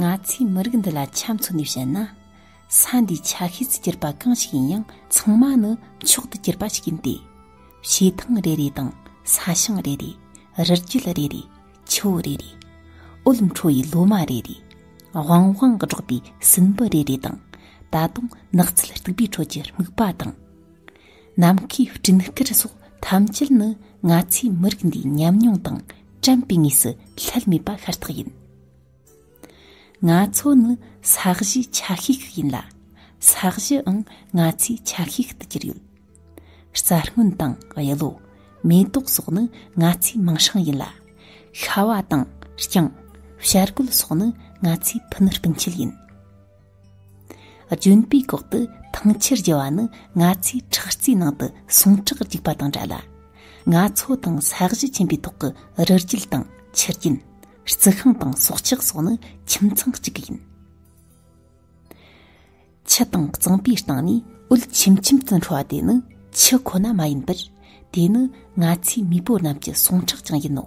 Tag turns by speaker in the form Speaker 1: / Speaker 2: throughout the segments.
Speaker 1: ང་ཚོས་མི་རིགས་འདི་ལ་ཆ་མཚོན་ནས་བཤད་ན། ས་འདིའི་ཆ་ཤས་སུ་གྱུར་པ་གང་ཞིག་ཡིན་ཡང་ཚང་མ་ནི་མཆོག་ཏུ་གྱུར་པ་ཞིག་ཡིན་ཏེ། བྱེ་ཐང་རེ་རེ་དང་ས་ཞིང་རེ་རེ། རི་རྒྱུད་རེ་རེ། ཆུ་བོ་རེ་རེ། འོད་འཕྲོ་བའི་ལོ་མ་རེ་རེ། བང་བང་གི་སྒྲོག་པའི་སྲིན་འབུ་རེ་རེ་དང་ད་དུང་ནགས་ཚལ་སྟུག་པོའི་ཁྲོད་ཀྱི་སྨུག་པ་དང། ནམ་མཁའི་སྤྲིན་དཀར་སོགས་ཐམས་ཅད་ནི་ང་ཚོའི་མི་རིགས་འདིའི་ཉམས་མྱོང་དང་དྲན་པའི་ངོས་སུ་ལྷད་མེད་པ་ཤ་སྟག་ཡིན། ང་ཚོ་ནི་ས་གཞིའི་ཆ་ཤས་ཤིག་ཡིན་ལ། ས་གཞིའང་ང་ཚོའི་ཆ་ཤས་ཤིག་ཏུ་གྱུར་ཡོད། རྩྭ་སྔོན་དང་གཡུ་ལོ། མེ་ཏོག་སོགས་ནི་ང་ཚོའི་མིང་ཧྲང་ཡིན་ལ། ཤྭ་བ་དང་རྐྱང། ཤར་གོད་སོགས་ནི་ང་ཚོའི་ཕུ་ནུ་སྤུན་མཆེད་ཡིན། ལྗོན་པའི་གོག་ཏུ་ཐང་ཆེར་རྒྱུ་བ་ནི་ང་ཚོའི་ཁྲག་རྩའི་ནང་དུ་ཟུངས་ཁྲག་རྒྱུག་པ་དང་འདྲ་ལ། ང་ཚོ་དང་ས་གཞི་ཆེན་པོའི་ཐོག་གི་རི་རྒྱུད་དང་ཆུ་རྒྱུན། རྩི་ཤིང་དང་སྲོག་ཆགས་སོགས་ནི་ཁྱིམ་ཚང་གཅིག་ཡིན། ཆུ་དང་གཙང་པོའི་སྟེང་ནས་འོད་ཆེམ་ཆེམ་དུ་འཕྲོ་བ་དེ་ནི་ཆུ་ཁོ་ན་མ་ཡིན་པར་དེ་ནི་ང་ཚོའི་མེས་པོ་རྣམས་ཀྱི་ཟུངས་ཁྲག་ཀྱང་ཡིན་ནོ།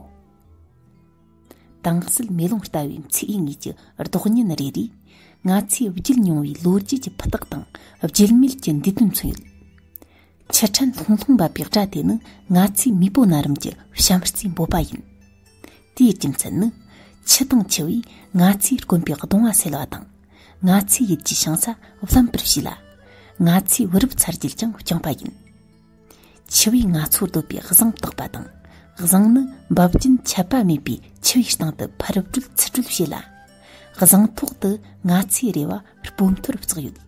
Speaker 1: དྭངས་བསིལ་མེ་ལོང་ལྟ་བུའི་ཚེས་ཉིད་ཀྱི་ལྡོག་བརྙན་རེ་རེས་ང་ཚོས་བརྒྱུད་མྱོང་བའི་ལོ་རྒྱུས་ཀྱི་ཕུ་ཐག་དང་བརྗེད་མེད་ཀྱི་འདས་དོན་མཚོན་ཡོད། ཕྱིར་དྲན་ལྷུང་ལྷུང་འབབ་པའི་སྒྲ་དེ་ནི་ང་ཚོའི་མེས་པོ་རྣ་རིམ་གྱི་བྱམས་བརྩེའི་འབོད་པ་ཡིན། དེའི་རྒྱུ་མཚན་ནི་ཆུ་དང་ཆུ་བས་ང་ཚོའི་དཀོན་པའི་གདུང་བ་སེལ་བ་དང། ང་ཚོའི་ཡིད་ཀྱི་བྱང་ས་བརླན་པར་བྱས་ལ། ང་ཚོའི་བུ་རབས་ཚར་རྒྱུད་ཀྱང་བསྐྱངས་པ་ཡིན། ཆུ་བོའི་ནགས་ཚོགས་དོད་པའི་གཟེངས་རྟགས་པ་དང་གཟེངས་ནི་འབབ་རྒྱུན་ཆད་པ་མེད་པའི་ཆུ་བའི་སྟེང་དུ་འཕུར་སྤྲོད་ཚུར་སྤྲོད་བྱེད་ལ་གཟེངས་ཐོག་ཏུ་ནགས་ཚལ་རེ་བ་སྤོ་མཐོར་བཙགས་ཡོད།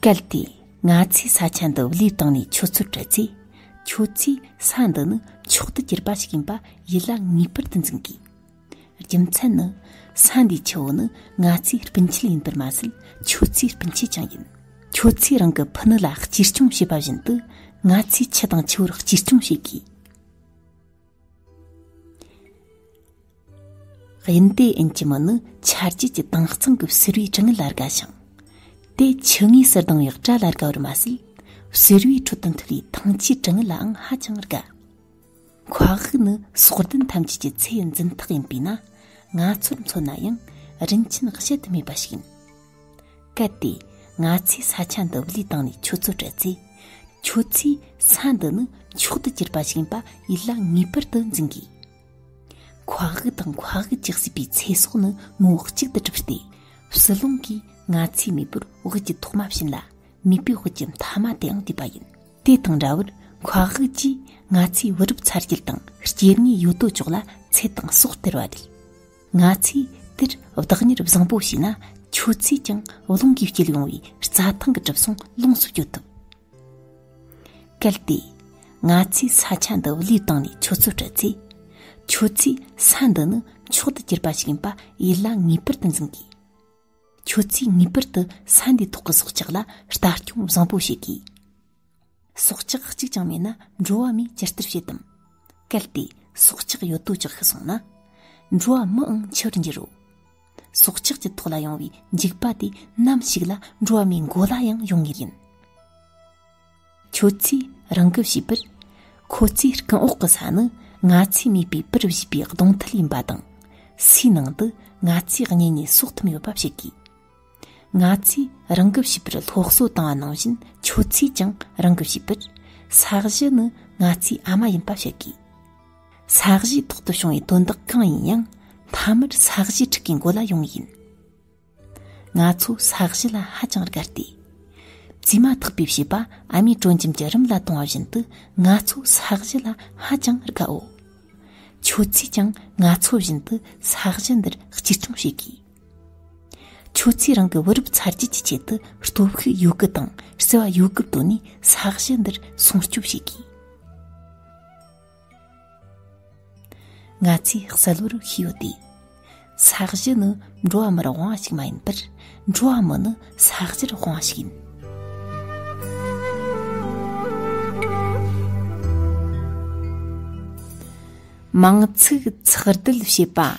Speaker 1: གལ་ཏེ་ང་ཚོས་ས་ཆ་འདི་བློས་བཏང་ནས་ཆུ་ཚོད་སྤྲད་ཚེ་ཁྱོད་ཚོས་ས་འདི་ནི་མཆོག་ཏུ་གྱུར་པ་ཞིག་ཡིན་པ་ཡིད་ལ་ངེས་པར་དུ་འཛིན་དགོས། རྒྱུ་མཚན་ནི་ས་འདིའི་ཆུ་བོ་ནི་ང་ཚོའི་སྤུན་མཆེད་ཡིན་པར་མ་ཟད་ཁྱོད་ཚོའི་སྤུན་མཆེད་ཀྱང་ཡིན། ཁྱོད་ཚོས་རང་གི་ཕུ་ནུ་ལ་གཅེས་སྐྱོང་བྱེད་པ་བཞིན་དུ་ང་ཚོས་ཁྱི་དང་ཆུ་བོར་གཅེས་སྐྱོང་བྱེད་དགོས། དབྱིན་ཏའེ་ཨེན་གྱི་མི་ནི་ཆར་རྒྱུས་ཀྱི་དྭངས་གཙང་གི་བསིལ་བའི་གྲང་ངར་ལ་དགའ་ཞིང། དེ་ཆུ་ངོས་སུ་ལྡང་བའི་སྐྲ་ལ་དགའ་བར་མ་ཟད་བསིལ་བའི་ཁྲོད་དུ་འཐུལ་བའི་ཐང་ཆུའི་གྲང་ངར་ལའང་ཧ་ཅང་དགའ། ཁོག་དབུགས་ནི་སྲོག་ལྡན་ཐམས་ཅད་ཀྱི་ཚེ་འཛིན་རྟགས་ཡིན་པས་ན་ང་ཚོར་མཚོན་ན་ཡང་རིན་ཆེན་བཤད་དུ་མེད་པ་ཞིག་ཡིན། གལ་ཏེ་ང་ཚོས་ས་ཆ་འདི་བློས་བཏང་ནས་ཁྱོད་ཚོར་སྤྲད་ཚེ། ཁྱོད་ཚོས་ས་འདི་ནི་མཆོག་ཏུ་གྱུར་པ་ཞིག་ཡིན་པ་ཡིད་ལ་ངེས་པར་དུ་འཛིན་དགོས། ཁོག་དབུགས་དང་ཁོག་དབུགས་ཀྱིས་བསྲེས་པའི་ཚེ་སྲོག་ནི་མུ་འོག་གཅིག་ཏུ་གྲུབ་སྟེ། ཕྱི་རླུང་གིས་ང་ཚོའི་མེས་པོར་དབུགས་ཀྱི་ཐོག་མ་བྱིན་ལ་མེས་པོའི་དབུགས་ཀྱི་མཐའ་མ་དེའང་དུས་པ་ཡིན། དེ་དང་འདྲ་བར་མཁའ་དབུགས་ཀྱིས་ང་ཚོའི་བུ་རབས་ཚར་རྒྱུད་དང་སྐྱེ་དངོས་ཡོད་དོ་ཅོག་ལ་ཚད་དང་སྲོག་སྟེར་བ་རེད། ང་ཚོས་དེར་བདག་གཉེར་བཟང་པོ་བྱས་ན་ཁྱོད་ཚོས་ཀྱང་རླུང་གིས་བསྐྱེད་ཡོང་བའི་རྩྭ་ཐང་གི་གྲིབ་སོང་ལོངས་སུ་སྤྱོད་ཐུབ། གལ་ཏེ། ང་ཚོས་ས་ཆ་འདི་བློས་བཏང་ནས་ཁྱོད་ཚོར་སྤྲད་ཚེ། ཁྱོད་ཚོས་ས་འདི་ནི་མཆོག་ཏུ་གྱུར་པ་ཞིག་ཡིན་པ་ཡིད་ལ་ངེས་པར་དུ་འཛིན་དགོས། ཁྱོད་ཚོས་ངེས་པར་དུ་ས་འདིའི་ཐོག་གི་སྲོག་ཆགས་ལ་ལྟ་སྐྱོང་བཟང་པོ་བྱེད་དགོས། སྲོག་ཆགས་གཅིག་ཀྱང་མེད་ན་འགྲོ་བ་མིས་ཇི་ལྟར་བྱེད་དམ། གལ་ཏེ་སྲོག་ཆགས་ཡོད་དོ་ཅོག་ཤི་སོང་ན། འགྲོ་བ་མིའང་འཆིར་འགྱུར་རོ། སྲོག་ཆགས་ཀྱི་ཐོག་ལ་ཡོང་བའི་འཇིགས་པ་དེ་ནམ་ཞིག་ལ་འགྲོ་བ་མིའི་མགོ་ལ་ཡང་ཡོང་ངེས་ཡིན། ཁྱོད་ཚོས་རང་གི་བྱིས་པར་ཁོ་ཚོའི་རྐང་འོག་གི་ས་ནི་ང་ཚོས་མིད་པའི་པུར་བྱིས་པའི་གདོང་ཐུལ་ཡིན་པ་དང་སུའི་ནང་དུ་ང་ཚོས་གཉེན་ཉེ་གསོག་ཐུབ་ཡོད་པ་བཤད་དགོས། ང་ཚོས་རང་གི་བྱིས་པར་སློབ་གསོ་བཏང་བ་ནང་བཞིན་ཁྱོད་ཚོས་ཀྱང་རང་གི་བྱིས་པར་ས་གཞི་ནི་ང་ཚོའི་ཨ་མ་ཡིན་པ་བཤད་དགོས། ས་གཞིའི་ཐོག་ཏུ་བྱུང་བའི་དོན་དག་གང་ཡིན་ཡང་མཐའ་མར་ས་གཞིའི་ཕྲུ་གུའི་མགོ་ལ་ཡོང་ངེས་ཡིན། ང་ཚོ་ས་གཞི་ལ་ཧ་ཅང་དགའ་སྟེ། བཙས་མ་ཐག་པའི་བྱིས་པ་ཨ་མའི་དྲོད་འཇམ་གྱི་རིམས་ལ་དོང་བ་བཞིན་དུ་ང་ཚོ་ས་གཞི་ལ་ཧ་ཅང་དགའོ། ཁྱོད་ཚོས་ཀྱང་ང་ཚོ་བཞིན་དུ་ས་གཞི་འདིར་གཅེས་སྐྱོང་བྱེད་དགོས། ཁྱོད་ཚོས་རང་གི་བུ་རབས་ཚར་རྗེས་ཀྱི་ཆེད་དུ་སྟོབས་ཤུགས་ཡོད་རྒུ་དང་བརྩེ་བ་ཡོད་རྒུ་བཏོན་ནས་ས་གཞི་འདིར་སྲུང་སྐྱོབ་བྱེད་དགོས། ང་ཚོས་གསལ་བོར་ཤེས་ཡོད་དེ། ས་གཞི་ནི་འགྲོ་བ་མིར་དབང་བ་ཞིག་མ་ཡིན་པར་འགྲོ་བ་མི་ནི་ས་གཞིར་དབང་བ་ཞིག་ཡིན། མང་ཚོགས་ཚགས་སྒྲིལ་བྱེད་པ།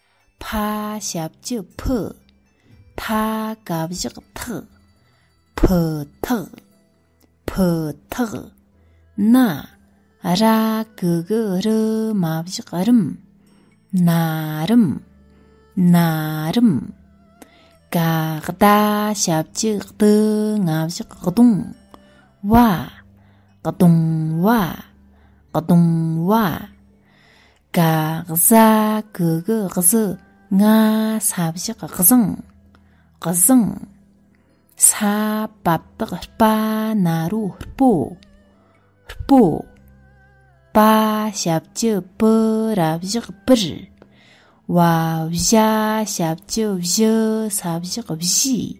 Speaker 1: ཕ་ཞབས་བཅུ་ཕུ། ཕ་ག་བཞག་ཐག། ཕུ་ཐག། ཕུ་ཐག། ན་ར་གུ་གུ་རུ་མ་བཞག་རིམ། ན་རིམ། ན་རིམ། ཀ་ད་ཞབས་བཅུ་གཏུ་ང་བཞག་གདུང། བ། གདུང་བ། གདུང་བ། དགག་བཟའ་གུག་བཟི་ང་ས་བཞག་བཟང་བཟང། ས་བབ་དག་སྤ་ན་རོ་སྤོ་སྤོ། པ་ཞབས་ཀྱི་པུ་ར་བཞག་པིར། བ་བཞའ་ཞབས་ཀྱི་བཞི་ས་བཞག་བཞི།